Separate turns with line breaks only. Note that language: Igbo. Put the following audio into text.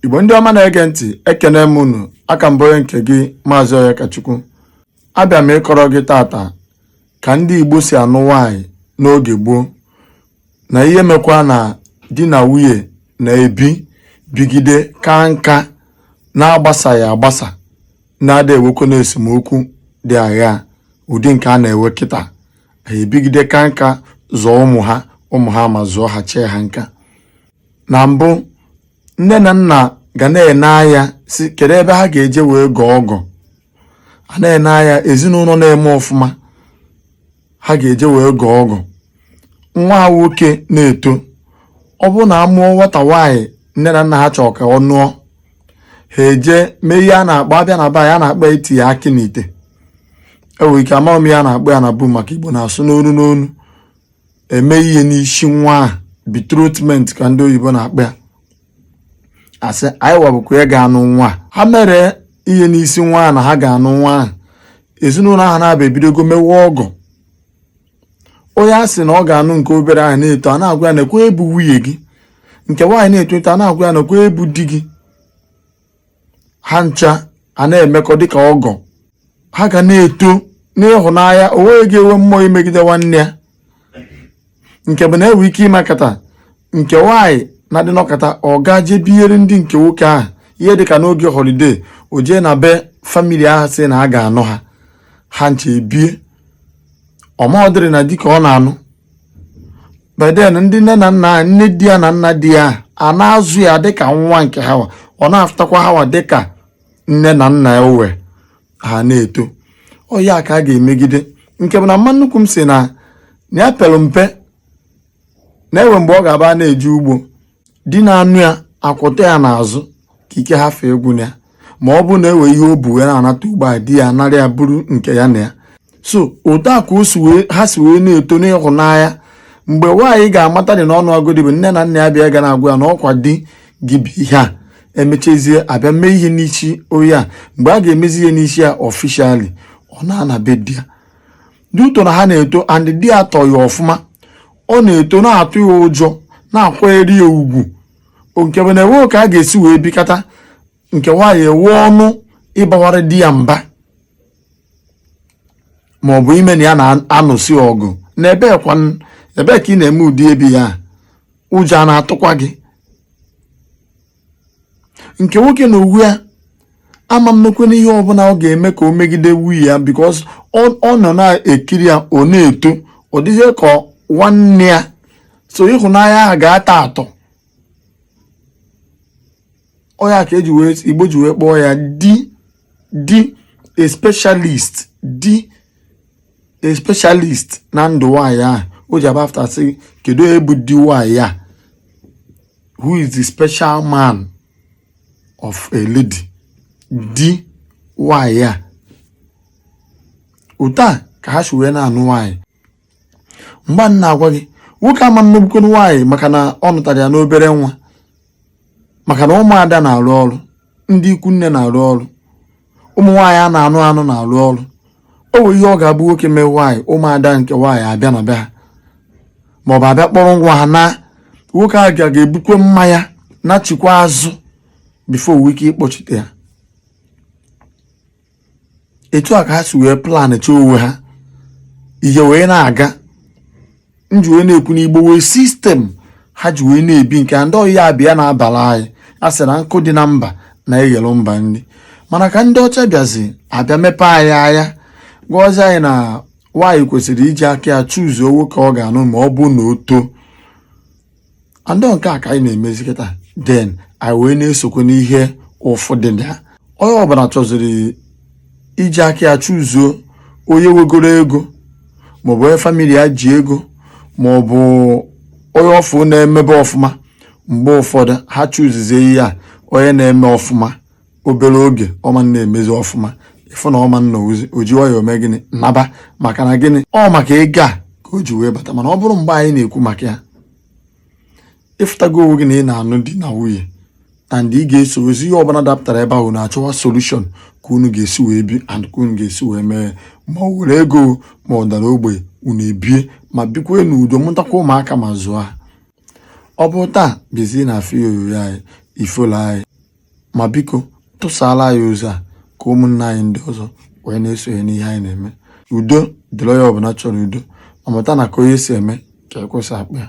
igbo ndị ọma na-ege ntị ekene m unu a ka m bụ onye nke gị maazị Onyekachukwu abịa m ịkọrọ gị tata ka ndị igbo si anụ nwaanyị n'oge gboo na ihe mekwa na di na nwunye na-ebi bigide kaa nka na-agbasaghị agbasa na-ada ewekwanụ esemokwu dị aghaa ụdị nke a na-ewe kịta ha ebigide kaa nka zụọ ụmụ ha ụmụ ha ma zụọ ha chee ha nka na mbụ nne na nna ga na-ene anya si kedu ebe ha ga-eje wee gọọ ọgọ a na-ene anya ezinụlọ na-eme ọfụma ha ga-eje wee gọọ ọgọ nwa ha nwoke na-eto ọ bụrụ na a mụọ nwata nwaanyị nne na nna ha chọrọ ka ọ nụọ ha eje mee ihe a na-akpọ a bịa na be anyị a na-akpọ itinye akị n'ite enwere ike amaghị m ihe a na-akpọ ya na be unu maka igbo na-asụ n'onu n'onu e mee ihe n'isi nwa ahụ betrothment ka ndị oyibo na-akpọ ya a sị anyịwa bụkwa ya ga-anụ nwa ha mere ihe n'isi nwa ahụ na ha ga-anụ nwa ahụ ezinụlọ ahụ naabọ ebidogo mewe ọgọ onye a sị na ọ ga-anụ nke obere ahụ na-eto a na-agwa ya na ọkwa ihe a bụ nwunye gị nke nwaanyị na-eto eto a na-agwa ya na ọkwa ihe a bụ di gị ha ncha a na-emekọ dịka ọgọ ha ga na-eto n'ịhụnanya o nweghị ga-enwe mmụọ imegide nwanne ya nke bụ na enwe ike imekata nke nwaanyị na-adị nọkata ọ gaa jee binyere ndị nke nwoke ahụ ihe dịka n'oge holiday o jee na be family ahụ sị na a ga-anụ ha ha ncha ebie ọ mahọdịrị na di ka ọ na-anụ by then ndị nne na nna nne di ya na nna di ya a na-azụ ya dịka nwa nke ha ọ na-afụtakwa ha dịka nne na nna ya nwe ha na-eto ọ ya ka a ga-emegide nke bụ na mma nnukwu m sị na ya pere mpe na-enwe mgbe ọ ga-abụ a na-eje ugbo di na-anụ ya akwọta ya n'azụ ka ike hafụ ịgwụna ya ma ọ bụ na ewe ihe o bu wee na-anata ugbo a di ya anarị ya buru nke ya na ya so otu a ka o si wee ha si wee na-eto n'ịhụnanya mgbe nwaanyị ga-amatadị na ọ nụọgo di bụ nne na nna ya bịa ga na-agwa ya na ọkwa di gị bụ ihe a emechezie abịa mee ihe n'isi onye a mgbe a ga-emezi ihe n'isi ya officially ọ naa na be di ya dị ụtọ na ha na-eto and di ya tọ ya ọfụma ọ na-eto na-atụ ya ụjọ na-akwanyere ya ugwu nke bụ na enweghị ka a ga-esi wee bikata nke nwaanyị ewe ọnụ ịbawara di ya mba ma ọ bụ ime na ya na-anụsi ọgụ n'ebee kwanụ ebee ka ị na-eme ụdị ihe bụ ihe a? ụjọ a na-atụkwa gị nke nwoke na onwe ya ama mmekwanụ ihe ọbụla ọ ga-eme ka o megide nwunye ya because ọ nọ na-ekiri ya ọ na-eto ọ dịzie ka nwanne ya so ịhụnanya ha ga-atọ atọ ọ ya ka igbo ji wee kpọọ ya di di a specialist di a specialist na ndụ nwaanyị ahụ o ji a bafụta sị kedu ebe bụ di nwaanyị a who is the special man of a lady di nwaanyị a otu a ka ha si wee na-anụ nwaanyị mgbe a na-agwa gị nwoke ama mmegbukwanụ nwaanyị maka na ọ nụtara ya n'obere nwa maka na ụmụada na-arụ ọrụ ndị ikwu nne na-arụ ọrụ ụmụ nwaanyị a na-anụ anụ na-alụ ọrụ o nwere ihe ọ ga-abụ nwoke mee nwaanyị ụmụada nke nwaanyị abịa na be ha maọbụ abịa kpọrọ nwa ha naa nwoke a ga- ga-ebukwe mmanya nachikwa azụ before o nwee ike ịkpọchite ya etu a ka ha si wee planchaa onwe ha ihe wee na-aga m ji wee na-ekwu na igbo nwere system ha ji wee na-ebi nke and ọ ya abịa na-abala anyị a sị na nkụ dị na mba na-eghelu mba nri mana ka ndị ọcha bịazi abịa mepe anyị anya gwazi anyị na nwaanyị kwesịrị iji aka ya chụzuo nwoke ọ ga-anụ ma ọ bụ na o too and nke a ka anyị na-emezi kịta then anyị wee na-esokwa n'ihe ụfụ dị na ya onye ọbụla chọzịrị iji aka ya chụzuo onye nwegoro ego maọbụ onye family ya ji ego maọbụ onye ọ fụ na-emebe ọfụma mgbe ụfọdụ ha chụzuzie ihe a onye na-eme ọfụma obere oge ọ ma na-emezi ọfụma ị fụ na ọ ma nnọzi o ji nwayọọ mee gịnị naba maka na gịnị ọ maka ego a ka o ji wee bata mana ọ bụrụ mgbe anyị na-ekwu maka ya ịfụtago onwe gị na ị na-anụ di na nwunye ndị ga-esozi ihe ọbụla dapụtara ebe ahụ na-achọwa solution ka unu ga-esi wee bi and ka unu ga-esi wee mee ma o nwere ego ma ọ dara ogbenye unu ebie ma bikwa n'udo mụtakwa ụmụaka ma zụọ ha ọ bụ taa bụ izizi ị na-afụ ihe onyonyo anyị ị follow anyị ma biko tụsaara anyị ozi a ka ụmụnna anyị ndị ọzọ wee na-esonye n'ihe anyị na-eme udo dịrị onye ọbụla chọrọ udo ma mụta na ka onye si eme ka ekwe si akpọ ya